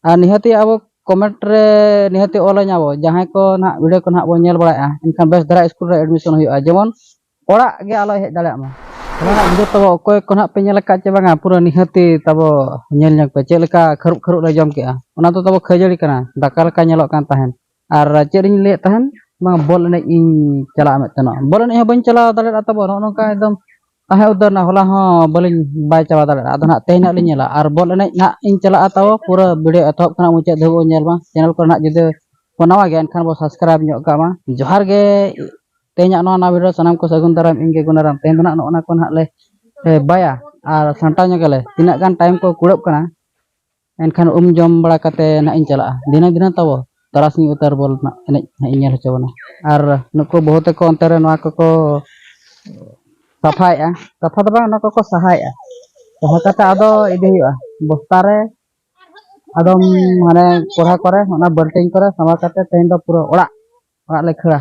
ᱟᱨ ᱱᱤᱦᱟᱹᱛᱤ ᱟᱵᱚ ᱠᱚᱢᱮᱱᱴ ᱨᱮ ᱱᱤᱦᱟᱹᱛᱤ ᱚᱞᱟᱹᱧ ᱟᱵᱚ ᱡᱟᱦᱟᱸᱭ ᱠᱚ ᱱᱟᱦᱟᱜ ᱵᱷᱤᱰᱤᱭᱳ ᱠᱚ ᱱᱟᱦᱟᱜ ᱵᱚᱱ ᱧᱮᱞ ᱵᱟᱲᱟᱭᱮᱫᱼᱟ ᱮᱱᱠᱷᱟᱱ ᱵᱮᱥ ᱫᱷᱟᱨᱟ ᱥᱠᱩᱞ ᱨᱮ ᱮᱰᱢᱤᱥᱚᱱ ᱦᱩᱭᱩᱜᱼᱟ ᱡᱮᱢᱚᱱ ᱚᱲᱟᱜ ᱜᱮ ᱟᱞᱚᱭ ᱦᱮᱡ ᱫᱟᱲᱮᱭᱟᱜ ᱢᱟ ᱚᱱᱟ ᱨᱮᱱᱟᱜ ᱵᱷᱤᱰᱤᱭᱳ ᱛᱟᱵᱚ ᱚᱠᱚᱭ ᱠᱚ ᱱᱟᱦᱟᱜ ᱯᱮ ᱧᱮᱞ ᱟᱠᱟᱫ ᱪᱮ ᱵᱟᱝᱟ ᱯᱩᱨᱟᱹ ᱱᱤᱦᱟᱹᱛᱤ ᱛᱟᱵᱚ ᱧᱮᱞ ᱧᱚᱜᱽ ᱯᱮ ᱪᱮᱫ ᱞᱮᱠᱟ ᱠᱷᱟᱹᱨᱩᱵ ᱠᱷᱟᱹᱨᱩᱵ ᱞᱮ ᱡᱚᱢ ᱠᱮᱫᱼᱟ ᱚᱱᱟ ᱫᱚ ᱛᱟᱵᱚ ᱠᱷᱟᱹᱡᱟᱹᱲᱤ ᱠᱟᱱᱟ ᱫᱟᱠᱟ ᱞᱮᱠᱟ ᱧᱮᱞᱚᱜ ᱠᱟᱱ ᱛᱟᱦᱮᱸᱫ ᱟᱨ ᱪᱮᱫ ᱤᱧ ᱞᱟᱹᱭᱮᱫ ᱛᱟᱦᱮᱱ ᱵᱟᱝ ᱵᱚᱞ ᱮᱱᱮᱡ ᱤᱧ ᱪᱟᱞᱟᱜᱼᱟ ᱢᱮᱱᱛᱮᱱᱚᱜ ᱵᱚᱞ ᱮᱱᱮᱡ ᱦᱚᱸ ᱵᱟᱹᱧ ᱪᱟᱞᱟᱣ ᱫᱟᱲᱮᱭᱟᱜᱼᱟ ᱛᱟᱵᱚ ᱱᱚᱜᱼᱚ ᱱᱚᱝᱠᱟ ᱮᱠᱫᱚᱢ ᱛᱟᱦᱮᱸ ᱩᱛᱟᱹᱨ ᱮᱱᱟ ᱦᱚᱞᱟ ᱦᱚᱸ ᱵᱟᱹᱞᱤᱧ ᱵᱟᱭ ᱪᱟᱵᱟ ᱫᱟᱲᱮᱭᱟᱜᱼᱟ ᱟᱫᱚ ᱱᱟᱦᱟᱜ ᱛᱮᱦᱮᱧ ᱱᱟᱦᱟᱜ ᱞᱤᱧ ᱧᱮᱞᱟ ᱟᱨ ᱵᱚᱞ ᱮᱱᱮᱡ ᱱᱟᱦᱟᱜ ᱤᱧ ᱪᱟᱞᱟᱜᱼᱟ ᱛᱟᱵᱚ ᱯᱩᱨᱟᱹ ᱵᱷᱤᱰᱤᱭᱳ ᱮᱛᱚᱦᱚᱵ ᱠᱷᱚᱱᱟᱜ ᱢᱩᱪᱟᱹᱫ ᱫᱷᱟᱹᱵᱤᱡ ᱵᱚᱱ ᱧᱮᱞ ᱢᱟ ᱪᱮᱱᱮᱞ ᱠᱚᱨᱮ ᱱᱟᱦᱟᱜ ᱡᱩᱫᱤ ᱵᱚᱱ ᱱᱟᱣᱟ ᱜᱮᱭᱟ ᱮᱱᱠᱷᱟᱱ ᱵᱚᱱ ᱥᱟᱵᱥᱠᱨᱟᱭᱤᱵᱽ ᱧᱚᱜ ᱠᱟᱜ ᱢᱟ ᱡᱚᱦᱟᱨ ᱜᱮ ᱛᱮᱦᱮᱧᱟᱜ ᱱᱚᱣᱟ ᱱᱟᱣᱟ ᱵᱷᱤᱰᱤᱭᱳ ᱥᱟᱱᱟᱢ ᱠᱚ ᱥᱟᱹᱜᱩᱱ ᱫᱟᱨᱟᱢ ᱤᱧ ᱜᱮ ᱜᱩᱱᱟᱨᱟᱢ ᱛᱮᱦᱮᱧ ᱫᱚ ᱱᱟᱦᱟᱜ ᱱᱚᱜᱼᱚ ᱱᱟ ᱠᱚ ᱱᱟᱦᱟᱜ ᱞᱮ ᱵᱟᱭᱟ ᱟᱨ ᱥᱟᱢᱴᱟᱣ ᱧᱚᱜᱟᱞᱮ ᱛᱤᱱᱟᱹᱜ ᱜᱟᱱ ᱴᱟᱭᱤᱢ ᱠᱚ ᱠᱩᱲᱟᱹᱜ ᱠᱟᱱᱟ ᱮᱱᱠᱷᱟᱱ ᱩᱢ ᱡᱚᱢ ᱵᱟᱲᱟ ᱠᱟᱛᱮ ᱱᱟᱦᱟᱜ ᱤᱧ ᱪᱟᱞᱟᱜᱼᱟ ᱫᱷᱤᱱᱟᱹᱝ ᱜᱮ ᱱᱟᱦᱟᱜ ᱛᱟᱵᱚ ᱛᱟᱨᱟᱥᱤᱧ ᱩᱛᱟᱹᱨ ᱵᱚᱞ ᱨᱮᱱᱟᱜ ᱮᱱᱮᱡ ᱱᱟᱦᱟᱜ ᱤᱧ ᱧᱮᱞ ᱦᱚᱪᱚ ᱵᱚᱱᱟ ᱟᱨ ᱱᱩᱠᱩ ᱵᱟᱹᱦᱩ ᱛᱟᱠᱚ ᱚᱱᱛᱮ ᱨᱮ ᱱᱚᱣᱟ ᱠᱚᱠᱚ ᱥᱟᱯᱷᱟᱭᱮᱜᱼᱟ ᱥᱟᱯᱷᱟ ᱫᱚ ᱵᱟᱝ ᱚᱱᱟ ᱠᱚᱠᱚ ᱥᱟᱦᱟᱭᱮᱜᱼᱟ ᱥᱟᱦᱟ ᱠᱟᱛᱮ ᱟᱫᱚ ᱤᱫᱤ ᱦᱩᱭᱩᱜᱼᱟ ᱵᱚᱥᱛᱟ ᱨᱮ ᱟᱫᱚᱢ ᱢᱟᱱᱮ ᱠᱚᱲᱦᱟ ᱠᱚᱨᱮ ᱚᱱᱟ ᱵᱟᱹᱞᱴᱤᱱ ᱠᱚᱨᱮ ᱥᱟᱢᱵᱟᱣ ᱠᱟᱛᱮ ᱛᱮᱦᱮᱧ ᱫᱚ ᱯᱩᱨᱟᱹ ᱚᱲᱟᱜ ᱚᱲᱟᱜ ᱞᱮ ᱠᱷᱟᱹᱲᱟ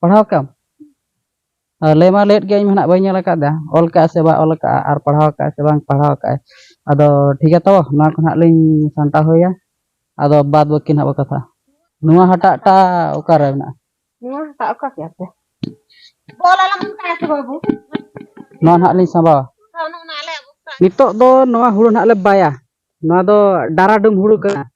ᱯᱟᱲᱦᱟᱣ ᱠᱟᱜ ᱟᱢ ᱞᱟᱹᱭ ᱢᱟ ᱞᱟᱹᱭᱮᱫ ᱜᱮᱭᱟᱹᱧ ᱢᱮᱱᱟᱜ ᱵᱟᱹᱧ ᱧᱮᱞ ᱟᱠᱟᱫᱟ ᱚᱞ ᱠᱟᱜᱼᱟ ᱥᱮ ᱵᱟᱭ ᱚᱞ ᱠᱟᱜᱼᱟ ᱟᱨ ᱯᱟᱲᱦᱟᱣ ᱠᱟᱜᱼᱟ ᱥᱮ ᱵᱟᱝ ᱯᱟᱲᱦᱟᱣ ᱠᱟᱜᱼᱟᱭ ᱟᱫᱚ ᱴᱷᱤᱠ ᱜᱮᱭᱟ ᱛᱚ ᱱᱚᱣᱟ ᱠᱚ ᱱᱟᱦᱟᱜ ᱞᱤᱧ ᱥᱟᱢᱴᱟᱣ ᱦᱩᱭᱟ ᱟᱫᱚ ᱵᱟᱫ ᱵᱟᱹᱠᱤ ᱱᱟᱦᱟᱜ ᱵᱚ ᱠᱟᱛᱷᱟ ᱱᱚᱣᱟ ᱦᱟᱴᱟᱜ ᱴᱟ ᱚᱠᱟᱨᱮ ᱢᱮᱱᱟᱜᱼᱟ ᱱᱚᱣᱟ ᱦᱟᱴᱟᱜ ᱚᱠᱟ ᱠᱮᱜᱼᱟ ᱯᱮ ᱚᱞ ᱟᱞᱟᱝ ᱚᱱᱠᱟ ᱥᱮ ᱵᱟᱹᱵᱩ ᱱᱚᱣᱟ ᱱᱟᱦᱟᱜ ᱞᱤᱧ ᱥᱟᱢᱵᱟᱣᱟ ᱱᱤᱛᱚᱜ ᱫᱚ ᱱᱚᱣᱟ ᱦᱩᱲᱩ ᱱᱟᱦᱟᱜ ᱞᱮ ᱵᱟᱭᱟ ᱱᱚᱣᱟ ᱫᱚ ᱰᱟᱨᱟᱰᱩᱢ ᱦᱩᱲᱩ ᱠᱟᱱᱟ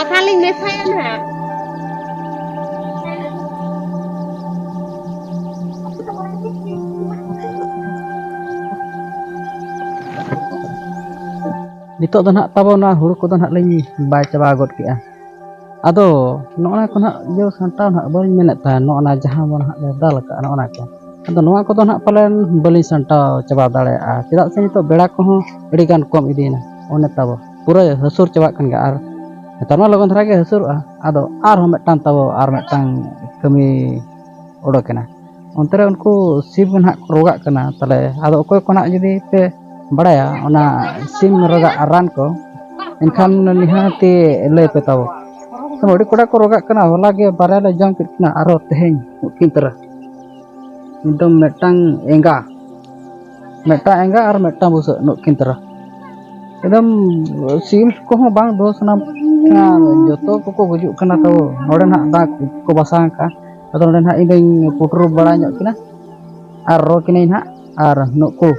ᱚ ᱛᱟᱦᱚᱞᱮᱧ ᱢᱮᱥᱟᱭᱟ ᱱᱟᱦᱟᱜ ᱱᱤᱛᱚᱜ ᱫᱚ ᱱᱟᱦᱟᱜ ᱛᱟᱵᱚ ᱱᱚᱣᱟ ᱦᱩᱲᱩ ᱠᱚᱫᱚ ᱱᱟᱦᱟᱜ ᱞᱤᱧ ᱵᱟᱭ ᱪᱟᱵᱟ ᱜᱚᱫ ᱠᱮᱜᱼᱟ ᱟᱫᱚ ᱱᱚᱜᱼᱚᱱᱟ ᱠᱚ ᱱᱟᱦᱟᱜ ᱡᱚ ᱥᱟᱢᱴᱟᱣ ᱱᱟᱦᱟᱜ ᱵᱟᱹᱧ ᱢᱮᱱᱮᱫ ᱛᱟᱦᱮᱸᱫ ᱱᱚᱜᱼᱚᱱᱟ ᱡᱟᱦᱟᱸ ᱵᱚᱱ ᱱᱟᱦᱟᱜ ᱞᱮ ᱫᱟᱞ ᱟᱠᱟᱫᱼᱟ ᱱᱚᱜᱼᱚᱱᱟ ᱠᱚ ᱟᱫᱚ ᱱᱚᱣᱟ ᱠᱚᱫᱚ ᱱᱟᱦᱟᱜ ᱯᱟᱞᱮᱱ ᱵᱟᱹᱞᱤᱧ ᱥᱟᱢᱴᱟᱣ ᱪᱟᱵᱟ ᱫᱟᱲᱮᱭᱟᱜᱼᱟ ᱪᱮᱫᱟᱜ ᱥᱮ ᱱᱤᱛᱚᱜ ᱵᱮᱲᱟ ᱠᱚᱦᱚᱸ ᱟᱹᱰᱤᱜᱟᱱ ᱠᱚᱢ ᱤᱫᱤᱭᱮᱱᱟ ᱚᱱᱮ ᱛᱟᱵᱚ ᱯᱩᱨᱟᱹ ᱦᱟᱹᱥᱩᱨ ᱪᱟᱵᱟᱜ ᱠᱟᱱ ᱜᱮᱭᱟ ᱟᱨ ᱱᱮᱛᱟᱨ ᱢᱟ ᱞᱚᱜᱚᱱ ᱫᱷᱟᱨᱟ ᱜᱮ ᱦᱟᱹᱥᱩᱨᱚᱜᱼᱟ ᱟᱫᱚ ᱟᱨᱦᱚᱸ ᱢᱤᱫᱴᱟᱝ ᱛᱟᱵᱚ ᱟᱨ ᱢᱤᱫᱴᱟᱝ ᱠᱟᱹᱢᱤ ᱚᱰᱚᱠ ᱮᱱᱟ ᱚᱱᱛᱮ ᱨᱮ ᱩᱱᱠᱩ ᱥᱤᱢ ᱱᱟᱦᱟᱜ ᱠᱚ ᱨᱳᱜᱟᱜ ᱠᱟᱱᱟ ᱛᱟᱦᱚᱞᱮ ᱟᱫᱚ ᱚᱠᱚᱭ ᱠᱚ ᱱᱟᱦᱟᱜ ᱡᱩᱫᱤ ᱯᱮ ᱵᱟᱲᱟᱭᱟ ᱚᱱᱟ ᱥᱤᱢ ᱨᱳᱜᱟᱜ ᱨᱟᱱ ᱠᱚ ᱮᱱᱠᱷᱟᱱ ᱱᱤᱦᱟᱹᱛᱤ ᱞᱟᱹᱭ ᱯᱮ ᱛᱟᱵᱚ ᱟᱹᱰᱤ ᱠᱚᱲᱟ ᱠᱚ ᱨᱳᱜᱟᱜ ᱠᱟᱱᱟ ᱦᱚᱞᱟ ᱜᱮ ᱵᱟᱨᱭᱟ ᱞᱮ ᱡᱚᱢ ᱠᱮᱫ ᱠᱤᱱᱟ ᱟᱨᱦᱚᱸ ᱛᱮᱦᱮᱧ ᱩᱱᱠᱤᱱ ᱛᱟᱨᱟ ᱮᱠᱫᱚᱢ ᱢᱤᱫᱴᱟᱝ ᱮᱸᱜᱟ ᱢᱤᱫᱴᱟᱝ ᱮᱸᱜᱟ ᱟᱨ ᱢᱤᱫᱴᱟᱝ ᱵᱩᱥᱟᱹᱜ ᱱᱩᱠᱤᱱ ᱛᱟᱨᱟ ᱮᱠᱫᱚᱢ ᱥᱤᱢ ᱠᱚᱦᱚᱸ ᱵᱟᱝ ᱫᱚᱦᱚ ᱥᱟᱱᱟ ᱡᱚᱛᱚ ᱠᱚᱠᱚ ᱜᱩᱡᱩᱜ ᱠᱟᱱᱟ ᱛᱚ ᱱᱚᱰᱮ ᱱᱟᱦᱟᱜ ᱫᱟᱜ ᱠᱚ ᱵᱟᱥᱟ ᱟᱠᱟᱫᱼᱟ ᱟᱫᱚ ᱱᱚᱰᱮ ᱱᱟᱦᱟᱜ ᱤᱧᱫᱚᱧ ᱯᱩᱴᱩᱨ ᱵᱟᱲᱟ ᱧᱚᱜ ᱠᱤᱱᱟ ᱟᱨ ᱨᱚ ᱠᱤᱱᱟᱹᱧ ᱱᱟᱦᱟᱜ ᱟᱨ ᱱᱩᱠᱩ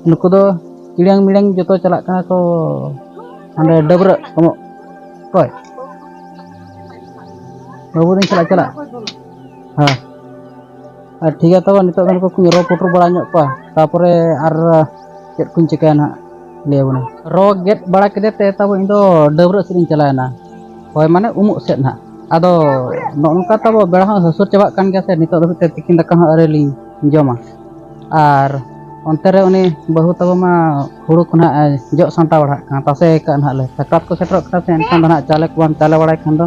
ᱱᱩᱠᱩ ᱫᱚ ᱤᱲᱟᱝ ᱢᱤᱲᱟᱝ ᱡᱚᱛᱚ ᱪᱟᱞᱟᱜ ᱠᱟᱱᱟ ᱠᱚ ᱦᱟᱸᱰᱮ ᱰᱟᱹᱵᱽᱨᱟᱹᱜ ᱮᱢᱚᱜ ᱚᱠᱚᱭ ᱵᱟᱹᱵᱩ ᱫᱚᱧ ᱪᱟᱞᱟᱜ ᱪᱟᱞᱟᱜ ᱦᱮᱸ ᱟᱨ ᱴᱷᱤᱠ ᱜᱮᱭᱟ ᱛᱚᱵᱮ ᱱᱤᱛᱚᱜ ᱫᱚ ᱱᱩᱠᱩ ᱠᱚᱧ ᱨᱚ ᱯᱩᱴᱩᱨ ᱵᱟᱲᱟ ᱧᱚᱜ ᱠᱚᱣᱟ ᱛᱟᱯᱚᱨᱮ ᱟᱨ ᱪᱮᱫ ᱠᱚᱧ ᱪᱤᱠᱟᱹᱭᱟ ᱱᱟᱦᱟᱜ ᱞᱟᱹᱭ ᱟᱵᱚᱱᱟ ᱨᱚ ᱜᱮᱫ ᱵᱟᱲᱟ ᱠᱮᱫᱮ ᱛᱮ ᱛᱟᱵᱚ ᱤᱧ ᱫᱚ ᱰᱟᱹᱵᱽᱨᱟᱹᱜ ᱥᱮᱫ ᱤᱧ ᱪᱟᱞᱟᱣᱮᱱᱟ ᱦᱳᱭ ᱢᱟᱱᱮ ᱩᱢᱩᱜ ᱥᱮᱫ ᱱᱟᱦᱟᱜ ᱟᱫᱚ ᱱᱚᱜᱼᱚ ᱱᱚᱝᱠᱟ ᱛᱟᱵᱚ ᱵᱮᱲᱟ ᱦᱚᱸ ᱦᱟᱹᱥᱩᱨ ᱪᱟᱵᱟᱜ ᱠᱟᱱ ᱜᱮᱭᱟ ᱥᱮ ᱱᱤᱛᱚᱜ ᱫᱷᱟᱹᱵᱤᱡ ᱛᱮ ᱛᱤᱠᱤᱱ ᱫᱟᱠᱟ ᱦᱚᱸ ᱟᱹᱣᱨᱤ ᱞᱤᱧ ᱡᱚᱢᱟ ᱟᱨ ᱚᱱᱛᱮ ᱨᱮ ᱩᱱᱤ ᱵᱟᱹᱦᱩ ᱛᱟᱵᱚ ᱢᱟ ᱦᱩᱲᱩ ᱠᱚ ᱱᱟᱦᱟᱜ ᱡᱚᱜ ᱥᱟᱢᱴᱟᱣ ᱵᱟᱲᱟᱜ ᱠᱟᱱᱟ ᱛᱟᱥᱮ ᱟᱠᱟᱫ ᱱᱟᱦᱟᱜ ᱞᱮ ᱥᱟᱠᱨᱟᱛ ᱠᱚ ᱥᱮᱴᱮᱨᱚᱜ ᱠᱟᱱᱟ ᱥᱮ ᱮᱱᱠᱷᱟᱱ ᱫᱚ ᱱᱟᱦᱟᱜ ᱪᱟᱣᱞᱮ ᱠᱚ ᱵᱟᱢ ᱪᱟᱣᱞᱮ ᱵᱟᱲᱟᱭ ᱠᱷᱟᱱ ᱫᱚ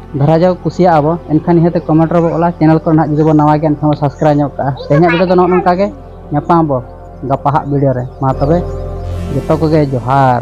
ᱫᱷᱟᱨᱟ ᱡᱟᱣ ᱠᱩᱥᱤᱭᱟᱜ ᱟᱵᱚ ᱮᱱᱠᱷᱟᱱ ᱱᱤᱦᱟᱹᱛ ᱠᱚᱢᱮᱱᱴ ᱨᱮᱵᱚ ᱚᱞᱟ ᱪᱮᱱᱮᱞ ᱠᱚᱨᱮ ᱱᱟᱦᱟᱜ ᱡᱩᱫᱤ ᱵᱚ ᱱᱟᱣᱟ ᱜᱮᱭᱟ ᱮᱱᱠᱷᱟᱱ ᱵᱚ ᱥᱟᱵᱥᱠᱨᱟᱭᱤᱵᱽ ᱧᱚᱜ ᱠᱟᱜᱼᱟ ᱛᱮᱦᱮᱧᱟᱜ ᱵᱷᱤᱰᱤᱭᱳ ᱫᱚ ᱱᱚᱜᱼᱚ ᱱᱚᱝᱠᱟ ᱜᱮ ᱧᱟᱯᱟᱢ ᱟᱵᱚ ᱜᱟᱯᱟ ᱦᱟᱜ ᱵᱷᱤᱰᱤᱭᱳ ᱨᱮ ᱢᱟ ᱛᱚᱵᱮ ᱡᱚᱛᱚ ᱠᱚᱜᱮ ᱡᱚᱦᱟᱨ